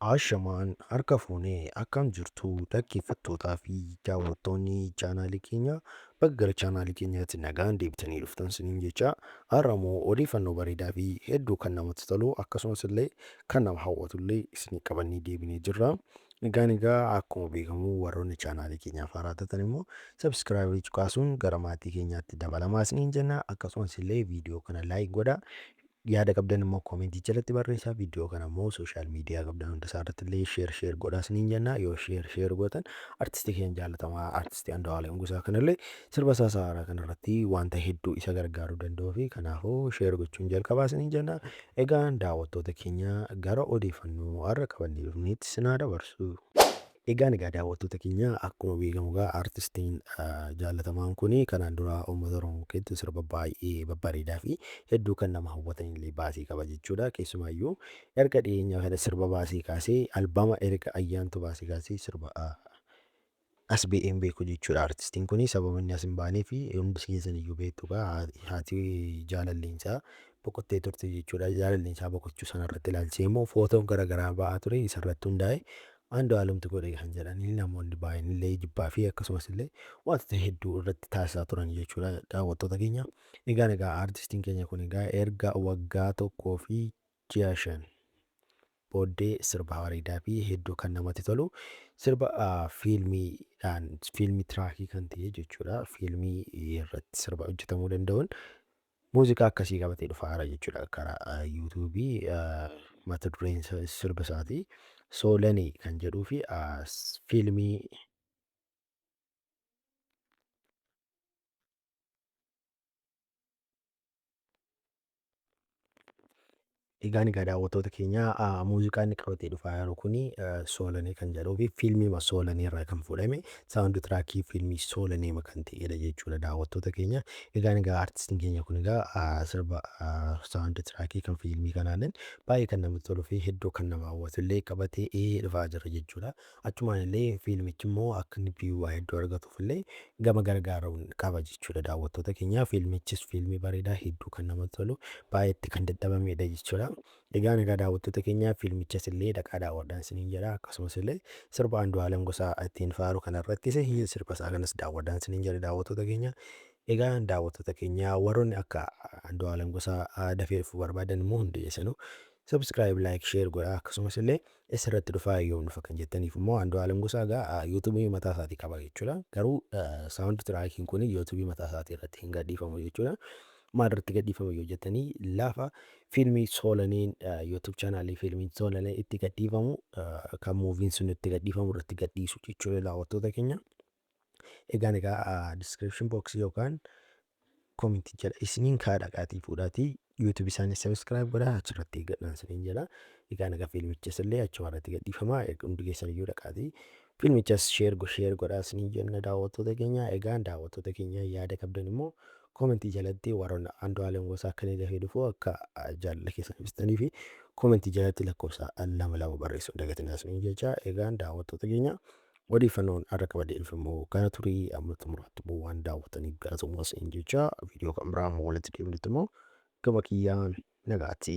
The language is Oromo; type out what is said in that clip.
Ashamaan harka fuune akkam jirtu dhaggeeffattootaa fi daawwattoonni chaanaalii keenya bakka gara chaanaalii keenyaatti nagaan deebitanii dhuftan siniin jecha har'a immoo odeeffannoo bareedaa fi hedduu kan namatti tolu akkasumas illee kan nama hawwatu illee isinii qabannee deebinee jirra. Egaan egaa akkuma beekamu warroonni chaanaalii keenyaaf haaraa taatan immoo sabskiraayibrii cuqaasuun gara maatii keenyaatti dabalamaa isiniin jenna akkasumas illee viidiyoo kana laayik godhaa Yaada qabdan immoo comment jalatti barreessaa. Video kana immoo social media qabdan hunda isaa irratti illee share share godhaa isiniin jenna. Yoo share share gootan artisti keenya jaalatamaa artisti Andu'aalem Gosaa kanallee sirba isaa isaa haaraa kanarratti wanta hedduu isa gargaaruu danda'uu fi kanaafuu share gochuun jalqabaa isiniin jenna. Egaan daawwattoota keenya gara odeeffannoo har'a qabannee dhufneetti isin haa dabarsu. Egaan egaa daawwattoota keenya akkuma beekamu egaa artistiin jaallatamaan kun kanaan dura uummata Oromoo keessatti sirba baay'ee babbareedaa fi hedduu kan nama hawwatan illee baasee qaba jechuudha. Keessumaayyuu erga dhiyeenya kana sirba baasee kaasee albama erga ayyaantu baasee kaasee sirba as ba'ee hin beeku jechuudha artistiin kun sababa inni as hin baanee fi hundi keessan iyyuu beektu egaa haati jaalalleensaa boqottee turte jechuudha. Jaalalleensaa boqochuu sanarratti ilaalchisee immoo footoon garaagaraa ba'aa ture isarratti hundaa'e Andu'aalumtu godhe kan jedhanii namoonni baay'een illee jibbaa fi akkasumas illee wantoota hedduu irratti taasisaa turan jechuudha daawwattoota keenya. Egaa egaa aartistiin keenya kun egaa erga waggaa tokkoo fi ji'a shan booddee sirba bareedaa fi hedduu kan namatti tolu sirba ah, fiilmiidhaan fiilmii tiraakii kan ta'e jechuudha fiilmii irratti sirba hojjetamuu danda'uun Muuziqaa akkasii qabatee dhufaara jechuudha karaa YouTube mata dureen isa- sirba isaati. Soolani kan jedhuu fi ah, s- fiilmii Egaan egaa daawwattoota keenya muuziqaa inni qabatee dhufaa jiru kun Soolanee kan jedhuu fi fiilmiima Soolanee irraa kan fuudhame saawundi tiraakii fiilmii Soolaneema kan ta'edha jechuudha daawwattoota keenya. Egaan egaa artistiin keenya kun egaa sirba saawundi tiraakii kan fiilmii kanaaleen baay'ee kan namatti toluu fi hedduu kan nama hawwatu illee qabatee dhufaa jira jechuudha. Achumaan illee fiilmichi immoo akka inni viyuu hedduu argatuuf illee gama gargaaruun qaba jechuudha daawwattoota keenya. Fiilmichis fiilmii bareedaa hedduu kan namatti tolu baay'eetti kan dadhabamedha jechuudha. Egaan egaa daawwattoota keenya fiilmichas illee dhaqaa daawwadhaan isiniin jedha akkasumas illee sirba Andu'aalem Gosaa ittiin faaru kanarrattis sirba isaa kanas daawwadhaan isiniin jedha daawwattoota keenya. Egaa daawwattoota keenya warroonni akka Andu'aalem Gosaa dafee dhufuu barbaadan immoo hundi keessanuu subscribe like share godhaa akkasumas illee Esarratti dhufaa yoom dhufa kan jettaniif immoo Andu'aalam Gosaa egaa yuutubii mataa isaatii qaba jechuudha. Garuu saawundi tiraakiin kun yuutubii mataa isaatii irratti hin gadhiifamu jechuudha. Maal irratti gadhiifama yoo jettanii lafa fiilmii soolaniin yuutub chaanaalii fiilmiin soolanee itti gadhiifamu kan muuviin sun itti gadhiifamu irratti gadhiisu jechuudha daawwattoota keenya. Egaan egaa description box yookaan comment jala isiniin kaa dhaqaatii fuudhaatii YouTube isaanii subscribe godhaa achirratti eeggadhaan isiniin jala. Egaan egaa fiilmichas illee achuma irratti gadhiifama hundi keessan iyyuu dhaqaatii fiilmichas share go share godhaa isiniin jenna daawwattoota keenya. Egaan daawwattoota keenya yaada qabdan immoo comment jalatti warroonni Andu'aalem Gosaa akka inni dafee dhufu akka jaalala keessan ibsitanii fi comment jalatti lakkoofsa lama lama barreessuun dagatinaa isiniin jecha. Egaan daawwattoota keenya Odeeffannoon har'a qabadeef immoo kana ture amma xumuraatti immoo waan daawwataniif galatoomaa isin jechaa viidiyoo kan biraa amma walitti deebinutti immoo gama kiyyaan nagaatti.